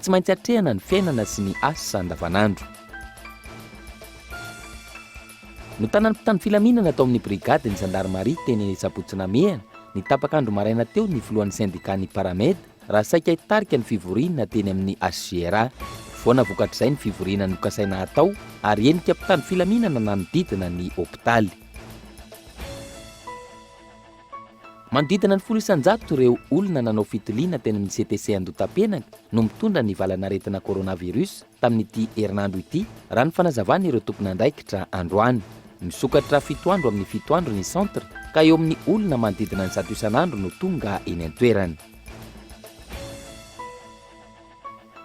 Tsy maintsy atrehana ny fiainana sy ny asa andavanandro. Notanan'ny mpitandro filaminana tao amin'ny brigadin'ny zandarimaria teny eny Sabotsy Namehana, ny tapak'andro maraina teo ny filohan'ny sendikàn'ny Paramed raha saika hitarika ny fivoriana teny amin'ny HGRA. Foana vokatr'izay ny fivoriana nokasaina hatao ary henika mpitandro filaminana nanodidina ny hopitaly. Manodidina ny folo isan-jato ireo olona nanao fitiliana teny amin'ny CTC Andotapenany no mitondra ny valan'aretina coronavirus tamin'ity herinandro ity, raha ny fanazavan'ireo tompon'andraikitra androany. Misokatra fito andro amin'ny fito andro ny centre ka eo amin'ny olona manodidina ny zato isan'andro no tonga eny an-toerana.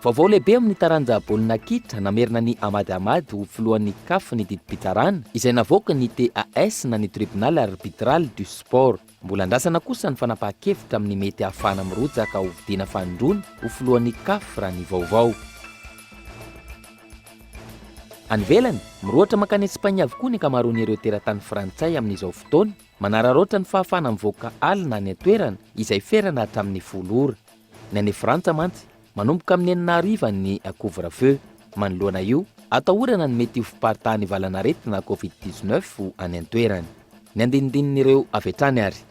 Vaovao lehibe amin'ny taranja baolina kitra, namerina an'i Amad Amad ho filohan'ny Caf ny didim-pitsarana izay navoakan'ny TAS na ny Tribunal Arbitral du Sport. Mbola andrasana kosa ny fanapahan-kevitra amin'ny mety hahafahana mirotsaka ho vidiana fanindroany ho filohan'ny Caf raha ny vaovao. Any ivelany, mirohotra mankany Espagne avokoa ny ankamaroan'ireo teratany frantsay amin'izao fotoana, manararaotra ny fahafahana mivoaka alina any an-toerana izay ferana hatramin'ny folo ora. Ny any Frantsa mantsy, manomboka amin'ny enina hariva ny couvre feu. Manoloana io, atahorana ny mety ho fiparitahan'ny valan'aretina covid dix neuf any an-toerana. Ny andinidinin'ireo avy hatrany ary.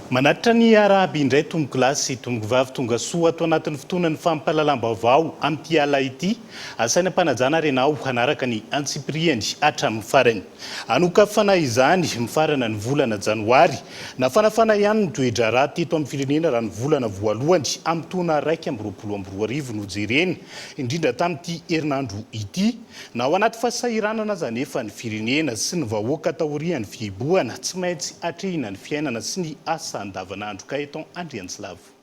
Manatitra ny Iarahaby indray tompoko lahy sy tompoko vavy tonga soa ato anatin'ny fotoanan'ny fampahalalam-baovao amin'ity alina ity. Asaina am-panajana ary ianao hanaraka ny antsipirihany hatramin'ny farany. Hanokafana izany mifarana ny volana janoary. Nafanafana ihany ny toe-draharaha teto amin'ny firenena raha ny volana voalohany amin'ny taona iraika amby roapolo amby roa arivo no jerena, indrindra tamin'ity herinandro ity. Na ao anaty fahasahiranana aza anefa ny firenena sy ny vahoaka taorian'ny fihibohana, tsy maintsy atrehina ny fiainana sy ny asa andavanandro, Gaëtan Andriantsilavo.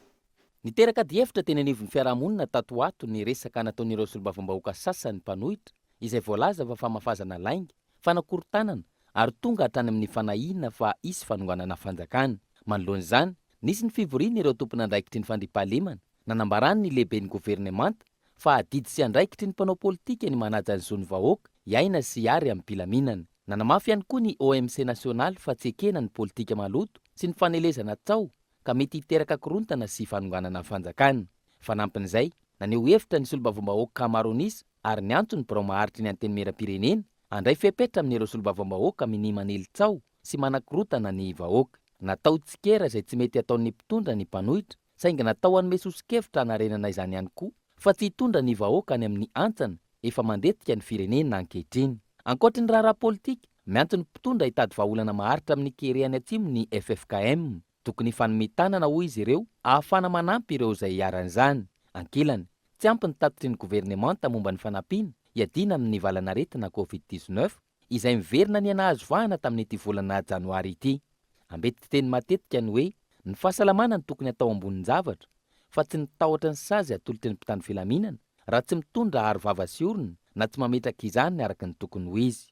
Niteraka adihevitra teny anivon'ny fiarahamonina tato ho ato ny resaka nataon'ireo solombavambahoaka sasany mpanohitra izay voalaza fa famafazana lainga, fanakorontanana ary tonga hatrany amin'ny fanahiana fa hisy fanonganana fanjakana. Manoloana izany, nisy ny fivorian'ireo tompon'andraikitry ny fandriampahalemana Nanambarany ny lehiben'ny governemanta fa adidy sy andraikitry ny mpanao politika ny manaja ny zon'ny vahoaka hiaina sy hiary amim-pilaminana. Nanamafy ihany koa ny OMC nasionaly fa tsy ekena ny politika maloto sy ny fanelezana tsaho ka mety hiteraka korontana sy fanonganana ny fanjakana. Fanampin'izay, naneho hevitra ny solombavambahoaka ankamaroan'isa ary niantso ny birao maharitry ny antenimieram-pirenena handray fepetra amin'ireo solombavambahoaka minia manely tsaho sy manakorotana ny vahoaka. Natao tsikera izay tsy mety ataon'ny mpitondra ny mpanohitra. saingy natao hanome soso-kevitra hanarenana izany ihany koa fa tsy hitondra ny vahoaka any amin'ny hantsana efa mandetika ny firenena ankehitriny. Ankoatry ny raharaha politika, miantso ny mpitondra hitady vahaolana maharitra amin'ny kere any atsimo ny ffkm. Tokony hifanome tanana hoy izy ireo ahafahana manampy ireo izay iharan'izany. Ankilany, tsy ampy ny tatitry ny governemanta momba ny fanampiana hiadiana amin'ny valan'aretina covid dix-neuf. izay miverina niha-nahazo vahana tamin'ity volana janoary ity. Ambeti-piteny matetika ny hoe ny fahasalamana no tokony atao ambonin-javatra fa tsy ny tahotra ny sazy atolotry ny mpitandro filaminana raha tsy mitondra aro vava sy orona na tsy mametraka izany araka ny tokony ho izy.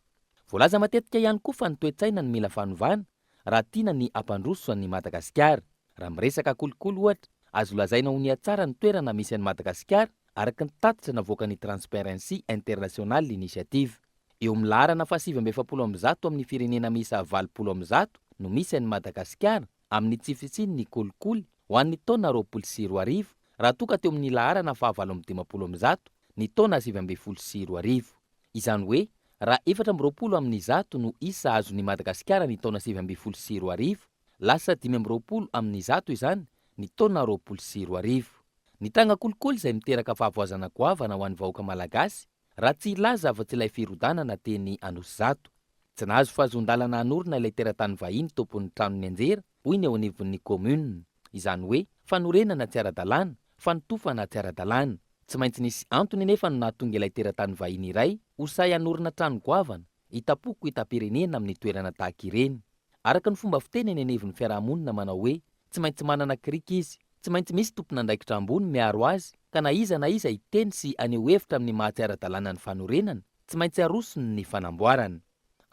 Voalaza matetika ihany koa fa ny toe-tsaina no mila fanovana raha tiana ny hampandroso an'i Madagasikara. Raha miresaka kolikoly ohatra, azo lazaina ho nihatsara ny toerana misy an'i Madagasikara araka ny tatitra navoakan'ny Transparency International Initiative. Eo amin'ny laharana fahasivy amby efapolo amby zato amin'ny firenena miisa valopolo amby zato no misy an'i Madagasikara amin'ny tsifitsihy ny kolikoly ho an'ny taona roapolo sy roa arivo raha toa ka teo amin'ny laharana fahavalo amby dimampolo amby zato ny taona sivy ambin'ny folo sy roa arivo. Izany hoe raha efatra amby roapolo amin'ny zato no isa azon'i Madagasikara ny taona sivy ambin'ny folo sy roa arivo, lasa dimy amby roapolo amin'ny zato izany ny taona roapolo sy roa arivo. Ny tanga kolikoly izay miteraka fahavoazana goavana ho an'ny vahoaka malagasy Raha tsy hilaza afa-tsy ilay firodanana teny Anosizato. Tsy nahazo fahazoan-dalana hanorina ilay teratany vahiny tompon'ny trano nianjera, hoy ny eo anivon'ny kaominina. Izany hoe, fanorenana tsy ara-dalàna, fanotofana tsy ara-dalàna. Tsy maintsy nisy antony anefa no nahatonga ilay teratany vahiny iray ho sahy hanorina trano goavana, hitam-poko hitam-pirenena amin'ny toerana tahaka ireny. Araka ny fomba fiteny eny anivon'ny fiarahamonina manao hoe, tsy maintsy manana kirika izy. Tsy maintsy misy tompon'andraikitra ambony miaro azy ka na iza na iza hiteny sy haneho hevitra amin'ny maha tsy ara-dalàna ny fanorenana, tsy maintsy arosony ny fanamboarana.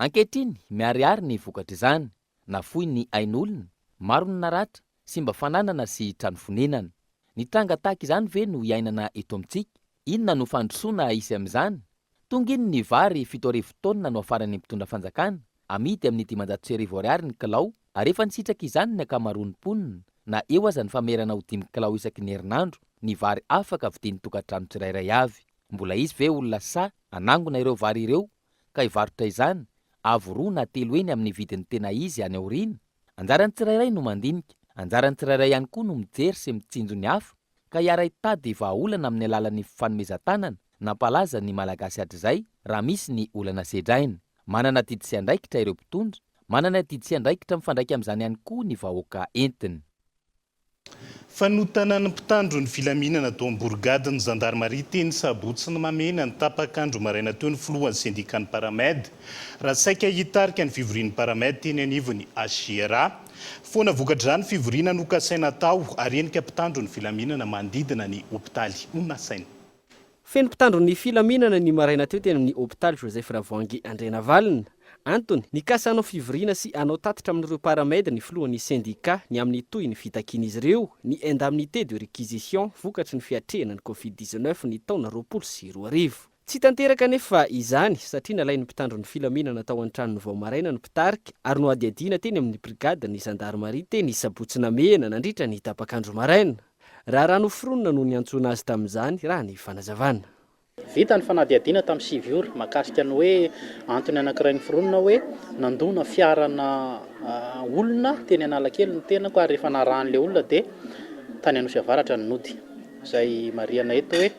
Ankehitriny, miharihary ny vokatr'izany. Nafoy ny ain'olona, maro ny naratra, simba fananana sy trano fonenana. Ny tranga tahaka izany ve no iainana eto amintsika? Inona no fandrosoana hisy amin'izany? Tonga iny ny vary fito arivo taonina no hafaran'ny mpitondra fanjakana, amidy amin'ny dimanjato sy arivo ariary ny kilao ary efa nisitraka izany ny ankamaroan'ny mponina na eo aza ny famerana ho dimy kilao isaky ny herinandro ny vary afaka vidian'ny tokantrano tsirairay avy. Mbola hisy ve olona sahy hanangona ireo vary ireo ka hivarotra izany avo roa na telo heny amin'ny vidiny tena izy any aoriana? Anjaran'ny tsirairay no mandinika, anjaran'ny tsirairay ihany koa no mijery sy mitsinjo ny hafa. ka hiara-hitady vahaolana amin'ny alalan'ny fifanomezan-tanana, nampalaza ny Malagasy hatrizay, raha misy ny olana sedraina. Manana adidy sy andraikitra ireo mpitondra, manana adidy sy andraikitra mifandraika amin'izany ihany koa ny vahoaka entiny. Fanotanan'ny mpitandro ny filaminana tao Amborigady ny zandarimaria teny Sabotsy ny Mamena ny tapak'andro maraina teo ny filohan'ny sendikan'ny Paramed, raha saika hitarika ny fivorian'ny Paramed teny anivon'ny HJRA. Foana vokatr'izany fivoriana nokasaina atao ary henika mpitandro ny filaminana manodidina ny hopitaly no nasaina. Feno mpitandro ny filaminana ny maraina teo teny amin'ny hopitaly Joseph Ravoahangy Andrianavalona. Antony, nikasa hanao fivoriana sy hanao tatitra amin'ireo Paramed ny filohan'ny sendika ny amin'ny tohin'ny fitakian'izy ireo ny indemnité de réquisition vokatry ny fiatrehana ny Covid dix-neuf ny taona roapolo sy roa arivo. Tsy tanteraka anefa izany satria nalain'ny mpitandro ny filaminana tao an-tranony vao maraina ny mpitarika ary nohadihadiana teny amin'ny brigadin'ny zandarimaria teny Sabotsy Namehana nandritra ny tapak'andro maraina. Raharaha noforonina no niantsoana azy tamin'izany, raha ny fanazavana. Vita ny fanadihadiana tamin'ny sivy ora mahakasika ny hoe antony anankiray noforonina hoe nandona fiarana olona teny Analakely ny tenako ary rehefa narahan'ilay olona dia tany Anosiavaratra ny nody. Izay marihana eto hoe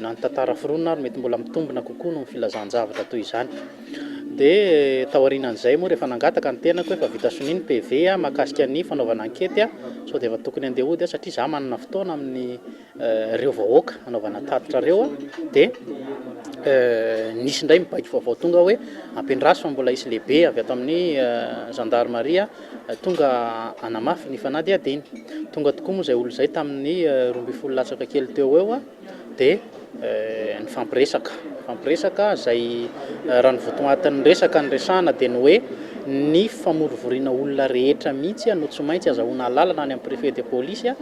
na ny tantara foronina ary mety mbola mitombina kokoa noho ny filazan-javatra toy izany. Dia taorianan'izay moa rehefa nangataka ny tenako efa vita sonia ny PV mahakasika ny fanaovana ankety sao dia efa tokony andeha hody aho satria za manana fotoana amin'ny eh, reo vahoaka anaovana tatitra reo dia eh, nisy indray mibaiko vaovao tonga hoe ampiandraso fa mbola hisy lehibe avy ato amin'ny eh, gendarmerie Tonga hanamafy ny fanadihadiana. Tonga tokoa moa izay olona izay tamin'ny roa ambin'ny folo latsaka kely teo ho eo dia nifampiresaka. Nifampiresaka izay raha ny votoatin'ny resaka niresahana dia ny hoe ny famorovoriana olona rehetra mihitsy no tsy maintsy azahoana alalana any amin'ny préfet de police,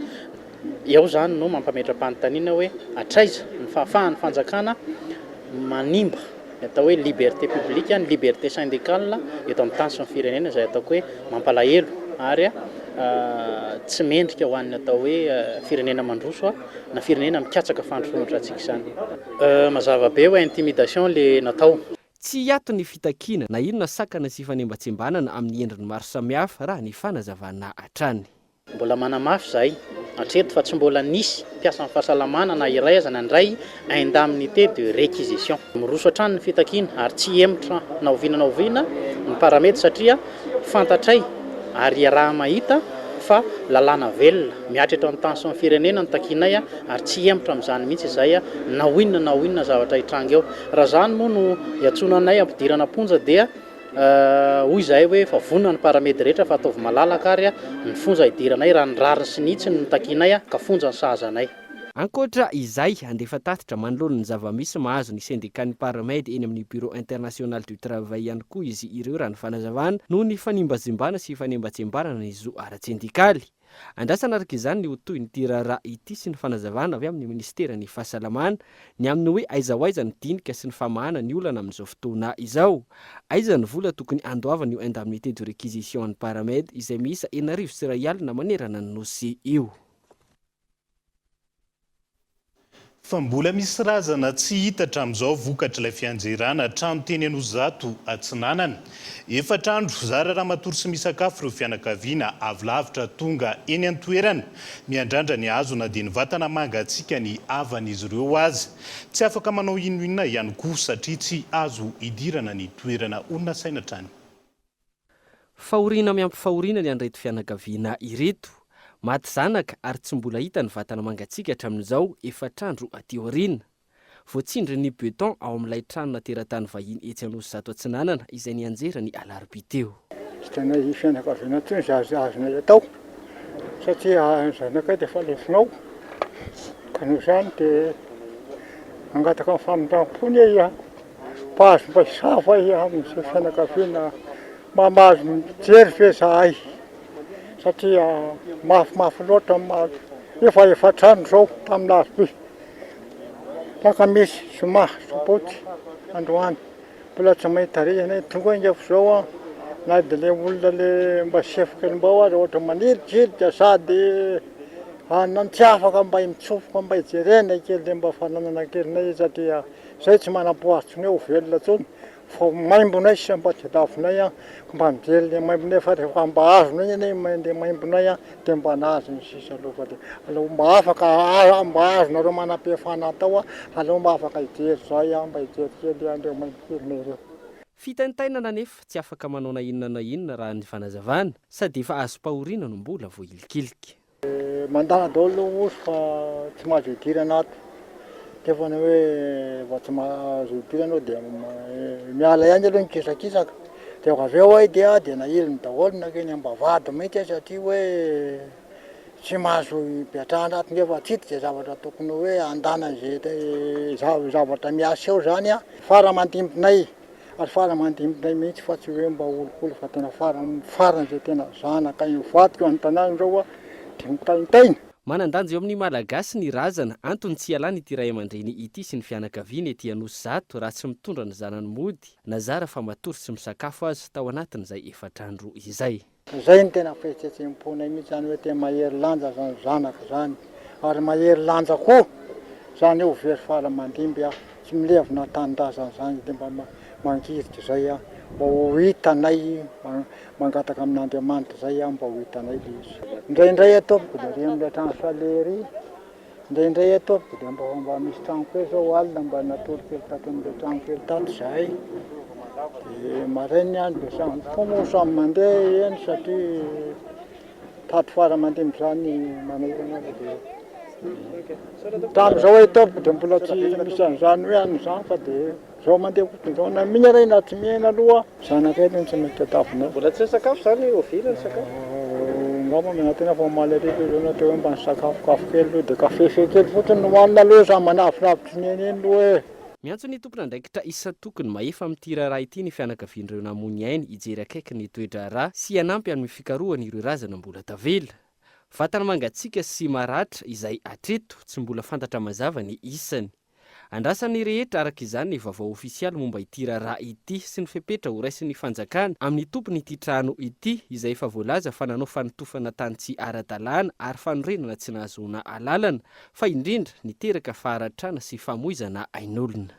Dia ao izany no mampametra-panontaniana hoe hatraiza ny fahafahan'ny fanjakana manimba ny atao hoe liberté publique, ny liberté syndicale eto amin'ny tany sy ny firenena izay ataoko hoe mampalahelo ary tsy mendrika ho an'ny atao hoe firenena mandroso na firenena mikatsaka fandrosoan-dRatsika izany. Mazava be hoe intimidation ilay natao. Tsy hiato ny fitakiana na inona sakana sy fanembatsembanana amin'ny endriny maro samihafa raha ny fanazavana hatrany. Mbola manamafy izahay hatreto fa tsy mbola nisy mpiasan'ny fahasalamana na iray aza nandray indemnité de réquisition. Miroso hatrany ny fitakiana ary tsy hihemotra na oviana na oviana ny paramety satria fantatray ary iaraha-mahita fa lalàna velona mihatra eto amin'ny tany sy ny firenena no takianay ary tsy hihemotra amin'izany mihitsy izahay na inona na inona zavatra hitranga eo. Raha izany moa no iantsoana anay hampidirana am-ponja dia Hoy izahay hoe efa vonona ny paramedy rehetra fa ataovy malalaka ary ny fonja hidiranay raha ny rariny sy ny hitsiny no takianay ka fonja ny sahaza anay. Ankoatra izay, handefa tatitra manoloana ny zava-misy mahazo ny sendikàn'ny paramedy eny amin'ny Bureau international du travail ihany koa izy ireo raha ny fanazavana, noho ny fanimbazimbana sy fanembatsembanana ny zo ara-tsendikaly. Andrasana araka izany ny ho tohin'ity raharaha ity sy ny fanazavana avy amin'ny minisiteran'ny Fahasalamana ny amin'ny hoe aiza ho aiza ny dinika sy ny famahana ny olana amin'izao fotoana izao. Aiza ny vola tokony handoavana io indemnité de réquisition an'ny Paramed izay miisa enarivo sy iray alina manerana ny Nosy io. Fa mbola misy razana tsy hita hatramin'izao vokatr'ilay fianjerana trano teny Anosizato Atsinanana. Efatra andro zara raha matory sy misakafo ireo fianakaviana avy lavitra tonga eny an-toerana. Miandrandra ny hazo na dia ny vatana mangatsiakan'ny havan'izy ireo aza. Tsy afaka manao inon'inona ihany koa satria tsy azo idirana ny toerana, ho nasaina hatrany. Fahoriana miampy fahoriana ny an'ireto fianakaviana ireto. Maty zanaka ary tsy mbola hita ny vatana mangatsiaka hatramin'izao efatr'andro aty aoriana. Voatsindrin'ny beton ao amin'ilay tranona teratany vahiny etsy Anosizato Atsinanana izay nianjera ny alarobia teo. Tsy tanan'ny fianakaviana intsony izay azonay atao satria ny zanakay dia efa lefonao ka noho izany dia mangataka ny famindram-pony aho. Mpahazo paiso fa i amin'izay fianakaviana mamaly ny mpijery ve zahay satria mafimafy loatra ny mahazo efa efatrano zao tamin'ny alarobia alakamisy zoma sabotsy androany mbola tsy mahay tarehy anay tonga enga fa zao an na de le olona le mba sefo kely mbao aza ohatra manirijirika sady an tsy afaka mba mitsofoka mba hijerena kely mba fananana kely satria Zay tsy manam-po atsy ny ho velona tsony fa maimbonay sy ampatadavinay an ko mba mivelona e maimbonay fa refa mba azonay anie ny main de maimbonay an de mba nazy ny sisa aloha fa de aleo mba afaka a mba azonareo manam-pihefana atao an aleo mba afaka hijery zay an mba hijery kely an reo maimbonay ireo. Fitaintainana nefa tsy afaka manao na inona na inona raha ny fanazavana sady efa azom-pahoriana no mbola voahilikilika. Mandà daolo lou oso fa tsy mahazo hidirana ato de efa ny hoe vao tsy mahazo hidirana ao dia miala ihany aloha ny kisakisaka de vao avy eo ay de dia nahiliny daolo nankeny ambavahady mihitsy ay satria hoe tsy mahazo hipetrahana ato nefa tsy hita izay zavatra tokony hoe handàna izay zavatra miaseho izany a. Fara aman-dimbinay Ary fara mandimby indray mihitsy fa tsy hoe mba olokolo fa tena fara farany izay tena zanaka hivadika ao an-tanàna izao hoa dia mitaintaina. Manan-danja eo amin'ny Malagasy ny razana, antony tsy hialany ity ray aman-dreny ity sy ny fianakaviany ety Anosizato raha tsy mitondra ny zanany mody na zara fa matory sy misakafo aza tao anatin'izay efatr'andro izay. Fa zay no tena fihetsehetsem-ponay mihitsy zany hoe tena mahery lanja zany zanaka zany ary mahery lanja koa zany hoe ho very faly aman-dimby aho tsy milevina an-tanindrazana zany de mba mangirika zay aho mba ho hitanay mangataka amin'Andriamanitra zay aho mba ho hitanay le izy. Indraindray atoa mbola renono le trano fale ery. Indraindray ataovy dia mba vao mba misy trano kely zao alina mba natory kely tato amin'ilay trano kely tato izahay dia marain'ny andro dia samy koa moa samy mandeha eny satria tato fara aman-dimby izany manokana ary dia tamin'izao ataovy dia mbola tsy misy an'izany hoe any izany fa dia Zao mandeha kotony zao na mihina re na tsy mihina aloha zanakay aloha no tsy maintsy tadiavinao. Mbola tsy nisakafo zany oviana ny sakafo? Angamba miala tena fa omaly hariva io zao na teo mba nisakafokafo kely aloha de kafefe kely fotsiny no hoanina aloha za manavilavitry ny eny eny loha e. Miantso ny tompon'andraikitra isan-tokony mahefa amin'ity raharaha ity ny fianakavian'ireo namoy ainy hijery akaiky ny toe-draharaha sy hanampy amin'ny fikarohana ireo razana mbola tavela. Vatana mangatsiaka sy maratra izay hatreto tsy mbola fantatra mazava ny isany. Andrasan'ny rehetra araka izany ny vaovao ofisialy momba ity raharaha ity sy ny fepetra horaisin'ny fanjakana amin'ny tompon'ity trano ity izay efa voalaza fa nanao fanotofana tany tsy ara-dalàna ary fanorenana tsy nahazoana alalana fa indrindra niteraka faharatrana sy famoizana ain'olona.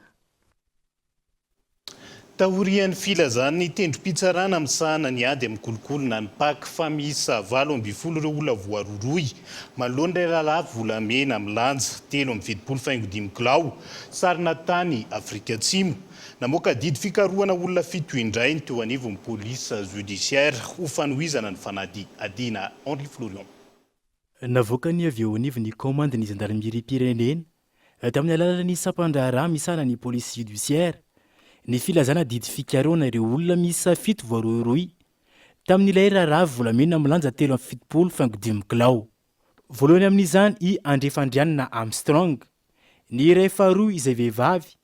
Taorian'ny filazan'ny tendrom-pitsarana misahana ny ady amin'ny kolikoly na ny pac fa miisa valo ambin'ny folo ireo olona voarohirohy manoloana ilay lalàko volamena milanja telo amby fitopolo faingo dimy kilao sarona tany Afrika Atsimo, namoaka didy fikarohana olona fito indray ny teo anivon'ny police judiciaire ho fanohizana ny fanadihadiana. Henri Florion. Navoakany avy eo anivon'ny kaomandin'ny zandarimeriam-pirenena, tamin'ny alalan'ny sampan-draharaha misahana ny polisy jodisiaira, ny filazana didy fikarohana ireo olona miisa fito voarohirohy tamin'ilay raharaha volamena milanja telo amby fitopolo faingo dimy kilao. Voalohany amin'izany i Andriafandrianina Armstrong, ny iray faharoa izay vehivavy,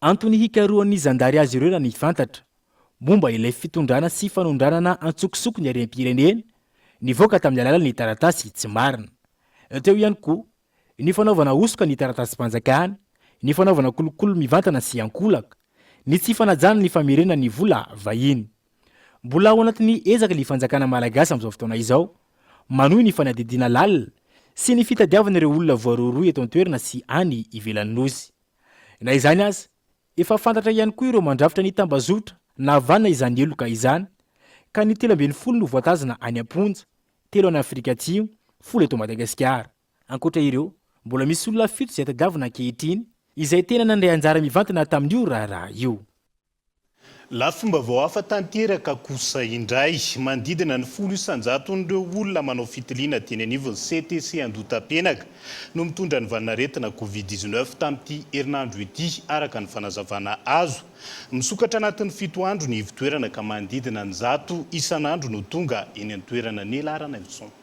Antony hikarohan'ny zandary azy ireo raha ny fantatra, momba ilay fitondrana sy fanondranana antsokosoko ny harem-pirenena, nivoaka tamin'ny alalan'ny taratasy tsy marina. Teo ihany koa, ny fanaovana hosoka ny taratasim-panjakana, ny fanaovana kolikoly mivantana sy ankolaka, ny tsy fanajana ny famerena ny vola vahiny. Mbola ao anatin'ny ezaka ny fanjakana malagasy amin'izao fotoana izao, manohy ny fanadihadiana lalina sy ny fitadiavana ireo olona voarohirohy eto an-toerana sy any ivelan'ny Nosy. Na izany aza, efa fantatra ihany koa ireo mandrafitra ny tambazotra nahavanona izany heloka izany, ka ny telo ambin'ny folo no voatazana any am-ponja, telo any Afrika Atsimo, folo eto Madagasikara. Ankoatra ireo, mbola misy olona fito izay tadiavina ankehitriny, izay tena nandray anjara mivantana tamin'io raharaha io. Lafim-baovao hafa tanteraka kosa indray. Manodidina ny folo isan-jaton'ireo olona manao fitiliana teny anivon'ny CTC Andohatapenaka no mitondra ny vanin'aretina Covid dix neuf tamin'ity herinandro ity, araka ny fanazavana azo. Misokatra anatin'ny fito andro ny ivon-toerana ka manodidina ny zato isan'andro no tonga eny an-toerana ny laharan'aintsony.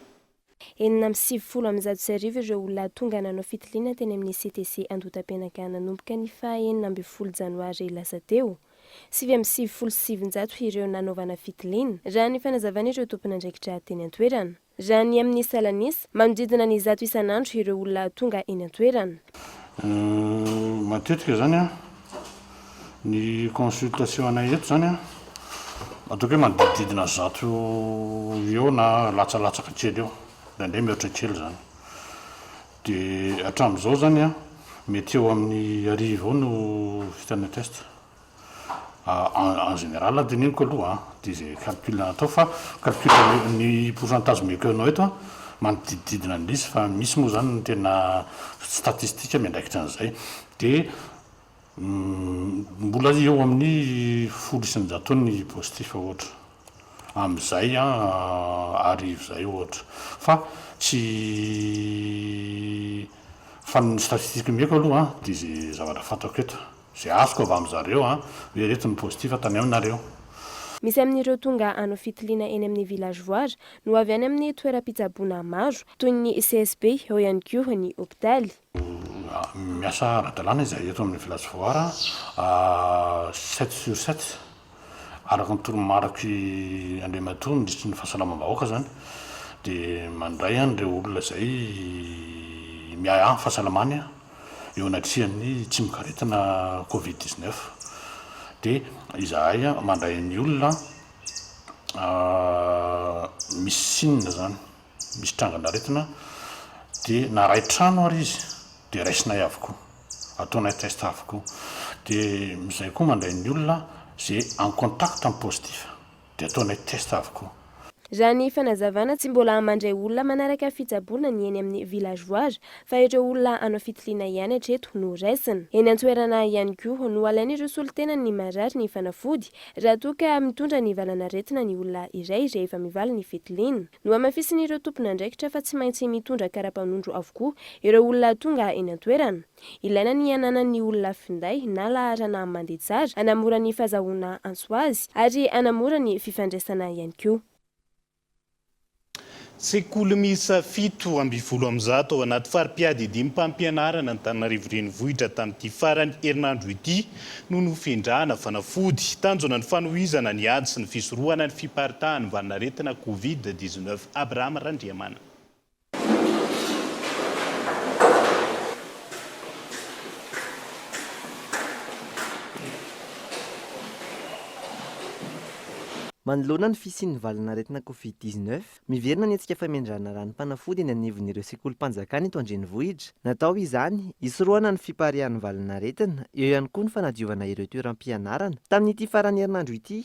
Enina amby sivifolo amby zato sy arivo ireo olona tonga nanao fitiliana teny amin'ny CTC Andohatapenaka nanomboka ny faha enina ambin'ny folo janoary lasa teo. Sivy amby sivifolo sy sivinjato ireo nanaovana fitiliana, raha ny fanazavan'ireo tompon'andraikitra teny an-toerana. Raha ny amin'ny salan'isa, manodidina ny zato isan'andro ireo olona tonga eny an-toerana. Matetika izany an. Ny consultation anay eto izany an, ataoko hoe manodidididina zato eo na latsalatsaka kely eo, indraindray mihoatra kely izany. Dia hatramin'izao izany an, mety eo amin'ny arivo eo no vita ny test. En général teneniko aloha an, dia izay calcul atao fa calcul ny pourcentage omeko anao eto an, manodidididina an'ilay izy fa misy moa izany ny tena statistique miandraikitra an'izay. Dia Mbola eo amin'ny folo isan-jato eo ny positif ohatra amin'izay arivo izay ohatra fa tsy fa ny statistique omeko aloha dia izay zavatra fantako eto izay azoko avy amin'ny zareo hoe ireto ny positif tany aminareo. Misy amin'ireo tonga hanao fitiliana eny amin'ny villagevoire no avy any amin'ny toeram-pitsaboana maro toy ny CSB, eo ihany koa ny hopitaly. Miasa ara-dalàna izahay eto amin'ny Village Foara sept sur sept, araka ny toromariky Andriamatoa Minisitry ny Fahasalamam-bahoaka izany dia mandray an'ireo olona izay miahiahy ny fahasalamany eo anatrehan'ny tsimokaretina covid dix neuf dia izahay mandray ny olona misy sinina izany. misy trangan'aretina dia na ray trano ary izy dia raisinay avokoa, ataonay test avokoa, dia izay koa mandray ny olona izay en contact amin'ny positif dia ataonay test avokoa. Raha ny fanazavana, tsy mbola mandray olona manaraka fitsaboana ny eny amin'ny villageois fa ireo olona hanao fitiliana ihany hatreto no raisina. Eny an-toerana ihany koa no alain'ireo solontenan'ny marary ny fanafody Raha toa ka mitondra ny valan'aretina ny olona iray rehefa mivaly ny fitiliny, nohamafisin'ireo tompon'andraikitra fa tsy maintsy mitondra karapanondro avokoa ireo olona tonga eny an-toerana. Ilaina ny hananan'ny olona finday na laharana mandeha tsara hanamora ny fahazahoana antso azy ary hanamora ny fifandraisana ihany koa. Sekoly miisa fito amby folo amby zato ao anaty fari-piadidiam-pampianarana Antananarivo Renivohitra tamin'ity faran'ny herinandro ity no nofendrahana fanafody. Tanjona ny fanohizana ny ady sy ny fisorohana ny fiparitahan'ny valanaretina Covid dix-neuf. Abraham Randriamanana. Manoloana ny fisian'ny valanaretina Covid dix neuf, miverina ny hetsika famindràna ranom-panafody eny anivon'ireo sekolim-panjakana eto an-drenivohitra. Natao izany, hisorohana ny fipariahan'ny valanaretina, eo ihany koa ny fanadiovana ireo toeram-pianarana, tamin'ity faran'ny herinandro ity.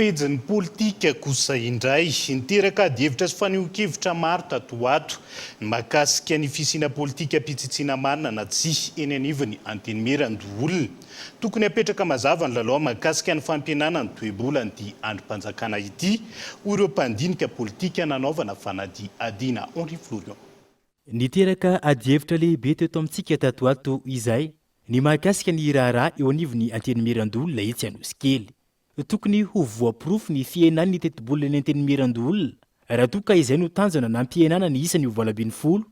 Pejin'ny politika kosa indray. Niteraka adihevitra sy fanehoan-kevitra maro tato ho ato ny mahakasika ny fisiana politikam-pitsitsiana marina na tsia eny anivon'ny Antenimierandoholona. Tokony hapetraka mazava ny lalao mahakasika ny fampihenana ny toe-bolan'ity andrim-panjakana ity, hoy ireo mpandinika politika nanaovana fanadihadiana. Henri Florion. Niteraka adihevitra lehibe teto amintsika tato ato izay ny mahakasika ny raharaha eo anivon'ny Antenimierandoholona etsy Anosikely. Tokony ho voaporofo ny fihenan'ny tetibolan'ny Antenimierandoholona raha toa ka izay no tanjona nampihenana ny isany ho valo ambin'ny folo,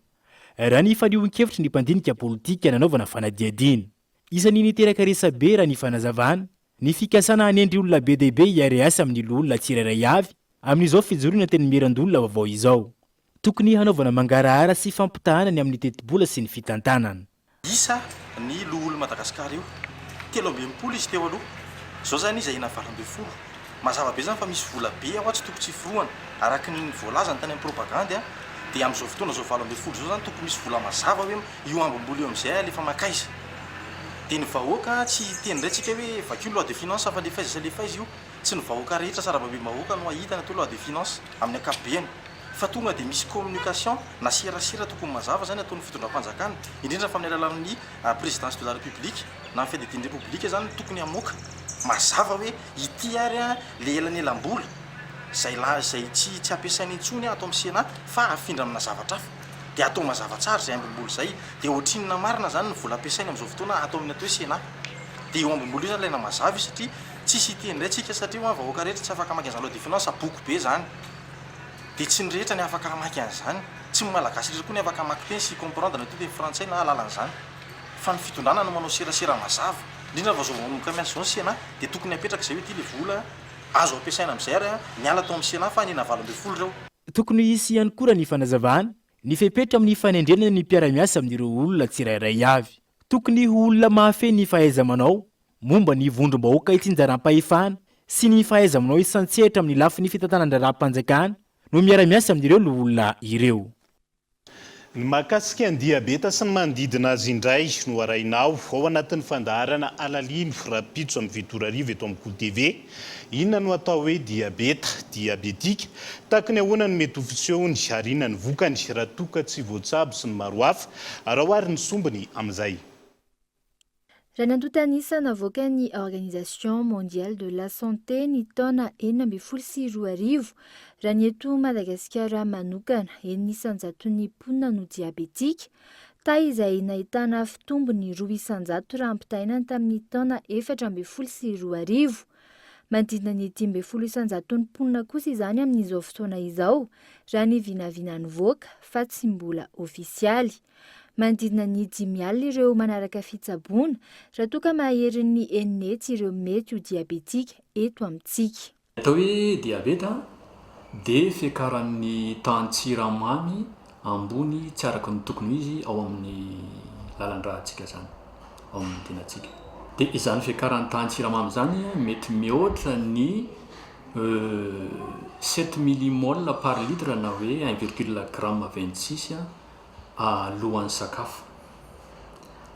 raha ny faniohon-kevitry ny mpandinika politika nanaovana fanadihadiana. Isan'ny niteraka resabe raha ny fanazavana ny fikasana hanendry olona be dia be hiare-asa amin'ny loholona tsirairay avy amin'izao fijoroana Antenimierandoholona vaovao izao. Tokony hanaovana mangarahara sy fampitahana ny amin'ny tetibola sy ny fitantanana. Isa ny loholon'i Madagasikara io, telo amby enimpolo izy teo aloha, izao izany izy enina valo ambin'ny folo. Mazava be izany fa misy vola be ao tsy tokony tsy hiforohana. Araka ny voalazany tany amin'ny propagandy dia amin'izao fotoana izao valo ambin'ny folo izao izany tokony misy vola mazava hoe io hambom-bola io amin'izay alefa mankaiza. Dia ny vahoaka tsy hiteny indray tsika hoe vakio loi de finance fa lefaiza sy alefaiza io. Tsy ny vahoaka rehetra sarababem-bahoaka no hahita ny atao loi de finance amin'ny ankapobeny. Fa tonga dia misy communication na serasera tokony mazava izany ataon'ny fitondram-panjakana indrindra fa amin'ny alalan'ny présidence de la république na ny fiadidian'ny repoblika izany no tokony hamoaka mazava hoe Ity ary an le elanelambola zay la zay tsy tsy ampiasaina intsony ato am Sénat fa afindra amina zavatra hafa de atao mazava tsara zay ambim-bola zay de otrinona marina zany ny vola ampiasaina amzao fotoana ato aminy atao hoe Sénat de io ambim-bola io zany ilaina mazava io satria tsisy hiteny ndray tsika satria hoan vahoaka rehetra tsy afaka mamaky anzaloi de finance boky be zany de tsy ny rehetra ny afaka hamaky anzany tsy ny malagasy rehetra koa ny afaka hamaky teny sy hi comprendre na atao teny frantsay na alalanzany Fa ny fitondrana no manao serasera mazava, indrindra fa izao vahoaka miasa izao ny Sénat dia tokony hapetraka izay hoe ity ilay vola azo ampiasaina amin'izay ary miala tao amin'ny Sénat fa an'ina valo ambin'ny folo ireo. Tokony hisy ihany koa raha ny fanazavana ny fepetra amin'ny fanendrena ny mpiara-miasa amin'ireo olona tsirairay avy. Tokony ho olona mahafehy ny fahaiza-manao momba ny vondrom-bahoaka itsinjaram-pahefana sy ny fahaiza-manao isan-tsehatra amin'ny lafiny fitantanan-draharaham-panjakana no miara-miasa amin'ireo loholona ireo. Ny mahakasika ny diabeta sy ny manodidina azy indray no harahinao ao anatin'ny fandaharana Alalino rahampitso amin'ny fito ora hariva eto amin'ny Go TV. Inona no atao hoe diabeta? Diabetika? Takin'ny ahoana no mety ho fisehony ary inona ny vokany raha toa ka tsy voatsabo sy ny maro hafa? Araho ary ny sombiny amin'izay. Raha nantontanisa navoakan'ny Organisation Mondiale de la Santé ny taona enina ambin'ny folo sy roa arivo, raha ny eto Madagasikara manokana, enina isan-jaton'ny mponina no diabetika, taha izay nahitana fitombony roa isan-jato raha ampitahaina ny tamin'ny taona efatra ambin'ny folo sy roa arivo. Manodidina ny dimy ambin'ny folo isan-jaton'ny mponina kosa izany amin'izao fotoana izao, raha ny vinavina nivoaka, fa tsy mbola ofisialy. Manodidina ny dimy alina ireo manaraka fitsaboana raha toa ka maherin'ny enina hetsy ireo mety ho diabetika eto amintsika. Ny atao hoe diabeta dia fiakaran'ny tahan-tsiramamy ambony tsy araka ny tokony ho izy ao amin'ny lalan-dratsika izany, ao amin'ny tenantsika. Dia izany fiakaran'ny tahan-tsiramamy izany mety mihoatra ny sept millimoles par litre na hoe un virgule gramme vingt six alohan'ny sakafo.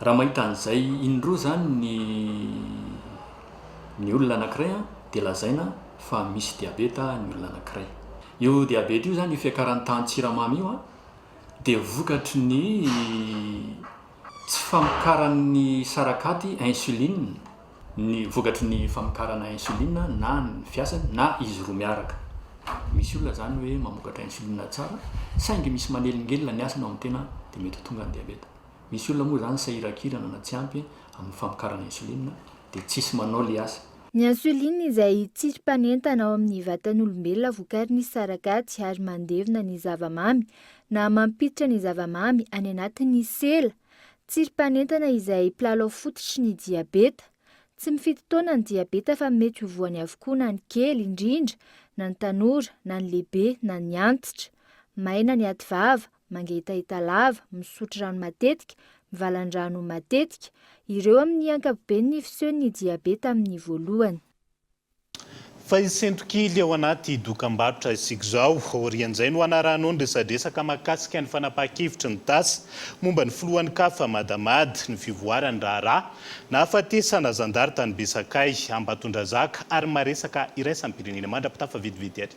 Raha mahita an'izay indroa izany ny ny olona anankiray dia lazaina fa misy diabeta ny olona anankiray. Io diabeta io izany, io fiakaran'ny tahan'ny tsiramamy io dia vokatry ny tsy famokaran'ny sarakaty insuline. ny vokatry ny famokarana insuline na ny fiasany na izy roa miaraka. Misy olona izany hoe mamokatra insuline tsara saingy misy manelingelina ny asany ao amin'ny tena dia mety ho tonga ny diabeta. Misy olona moa izany sahiran-kirana na tsy ampy amin'ny famokarana insuline dia tsisy manao ilay asa. Ny insuline izay tsirim-panentana ao amin'ny vatan'olombelona vokarin'ny sarakaty ary mandevina ny zava-mamy na mampiditra ny zava-mamy any anatin'ny sela, Tsirim-panentana izay mpilalao fototry ny diabeta. Tsy mifidy taona ny diabeta fa mety ho voany avokoa na ny kely indrindra, na ny tanora, na ny lehibe, na ny antitra. Maina ny ativava, mangetaheta lava, misotro rano matetika, mivalan-drano matetika. Ireo amin'ny ankapobeny ny fisehon'ny diabeta amin'ny voalohany. Fa i Sentokily ao anaty dokambarotra isika izao. Aorian'izay no hanarahanao ny resadresaka mahakasika ny fanapahan-kevitry ny tafsa momba ny filohan'ny Caf Madamad, ny fivoaran'ny raharaha nahafatesana zandary tany Besakay, Ambatondrazaka ary ny maha resaka iraisam-pirenena mandra-pitafa vetivety ary.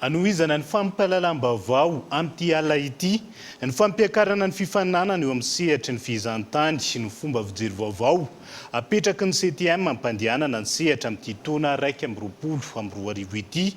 Hanohizana ny fampahalalam-baovao amin'ity alina ity, ny fampiakarana ny fifaninanana eo amin'ny sehatry ny fihizan-tany no fomba fijery vaovao apetraky ny CTM hampandehanana ny sehatra amin'ity taona iraika amby roapolo amby roa arivo ity.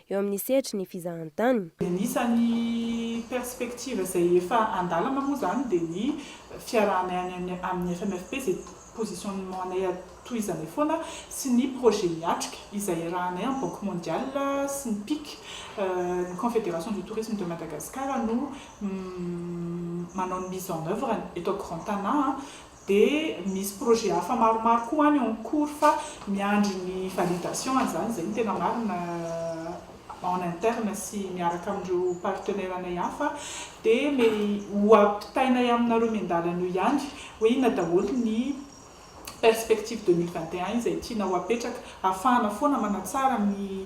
eo amin'ny sehatry ny fizahantany. Anisan'ny perspective izay efa an-dalana moa izany dia ny fiarahanay any amin'ny FMFP izay positionnement-nay tohizanay foana sy ny projet miatrika izay iarahanay amin'ny Banque Mondiale sy ny pic, ny Confédération du Tourisme de Madagascar no manao ny mise en œuvre-ny eto Grand Tana. Dia misy projet hafa maromaro koa any en cours fa miandry ny validation an'izany, izay no tena marina en interne sy miaraka amin'ireo partenaires anay hafa dia mety ho ampitainay aminareo miandalana eo ihany hoe inona daholo ny perspectives deux mille vingt et un izay tianao hapetraka, hahafahana foana manatsara ny.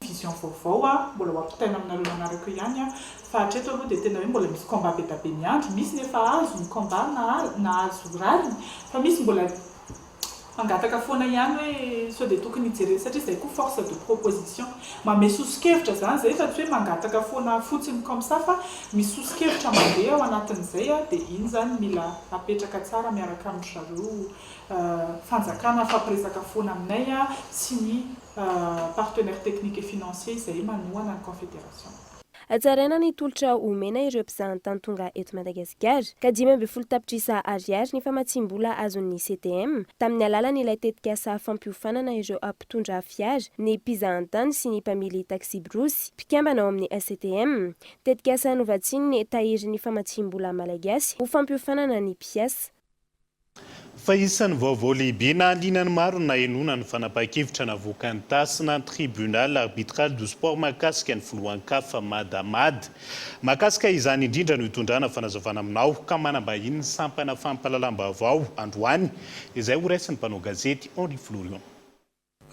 vision vaovao a, mbola ho ampitaina aminareo manaraka eo ihany a, fa hatreto aloha dia tena hoe mbola misy combat be da be miandry, misy ny efa azo ny combat na nahazo rariny fa misy mbola mangataka foana ihany hoe sao dia tokony hijerena satria izay koa force de proposition mamehy soso-kevitra izany izay fa tsy hoe mangataka foana fotsiny comme ça fa misy soso-kevitra mandeha ao anatin'izay a, dia iny izany mila apetraka tsara miaraka amin-dry zareo fanjakana, mifampiresaka foana aminay a, sy ny. partenaires techniques et financiers izay manohana ny Confédération. Hatsaraina ny tolotra omena ireo mpizahantany tonga eto Madagasikara, ka dimy ambin'ny folo tapitrisa Ariary ny famatsiam-bola azon'ny CTM tamin'ny alalan'ilay tetikasa fampiofanana ireo mpitondra fiara, ny mpizahantany sy ny mpamily taksibrosy, mpikambana ao amin'ny CTM. Tetikasa novatsian'ny tahirin'ny famatsiam-bola Malagasy ho fampiofanana ny mpiasa. Fa isan'ny vaovao lehibe nahaliana ny maro ny nahenoana ny fanapahan-kevitra navoakan'ny TASN, Tribunal Arbitral du Sport, mahakasika ny filohan'ny Caf, Madamad. Mahakasika izany indrindra no hitondrana fanazavana aminao ka manambahiny ny sampana fampahalalam-baovao androany izay ho raisin'ny mpanao gazety Henri Florion.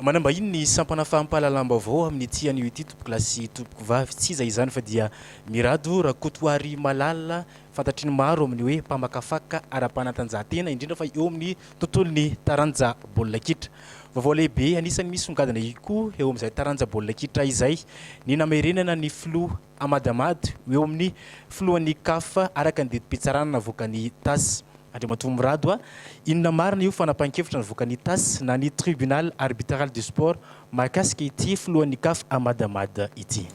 Manambahiny ny sampana fampahalalam-baovao amin'ny ity anio ity Tompokolahy sy Tompokovavy, tsy iza izany fa dia Mirado Rakotoarimalala, fantatry ny maro amin'ny hoe mpamakafaka ara-panatanjahantena, indrindra fa eo amin'ny tontolon'ny taranja baolina kitra. Vaovao lehibe anisan'ny misongadina ihkoa eo amin'izay taranja baolina kitra izay ny namerenana ny filoha. Ahmad Ahmad, ho eo amin'ny filohan'ny Caf araka ny didim-pitsarana navoakan'ny Tass. Andriamatoa Mirado A, inona marina io fanapahan-kevitra navoakan'ny Tass na ny Tribunal Arbitral du Sport mahakasika ity filohan'ny Caf Ahmad Ahmad ity?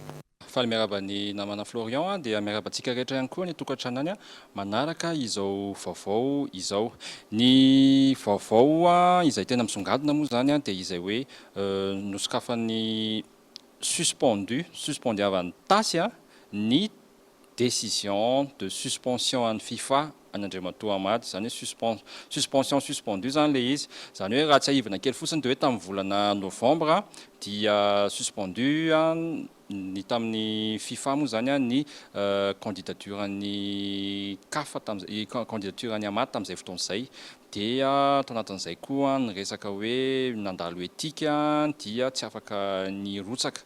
Faly miarahaba ny namana Florian a, dia miarahaba antsika rehetra ihany koa ny tokantranony manaraka izao vaovao izao. Ny vaovao izay tena misongadina moa izany dia izay hoe nosokafan'ny suspendu, suspendiavan'ny tasy ny décision de suspension an'ny fifa an'i Andriamatoa Hamady, izany hoe suspens, suspension suspendue izany ilay izy, izany hoe raha tsiahivina kely fotsiny dia hoe tamin'ny volana novembre dia suspendu ny tamin'ny fifa moa izany ny candidature an'i caf tamin'izay, candidature an'i Hamady tamin'izay fotoana izay. Dia tao anatin'izay koa ny resaka hoe nandalo etika dia tsy afaka nirotsaka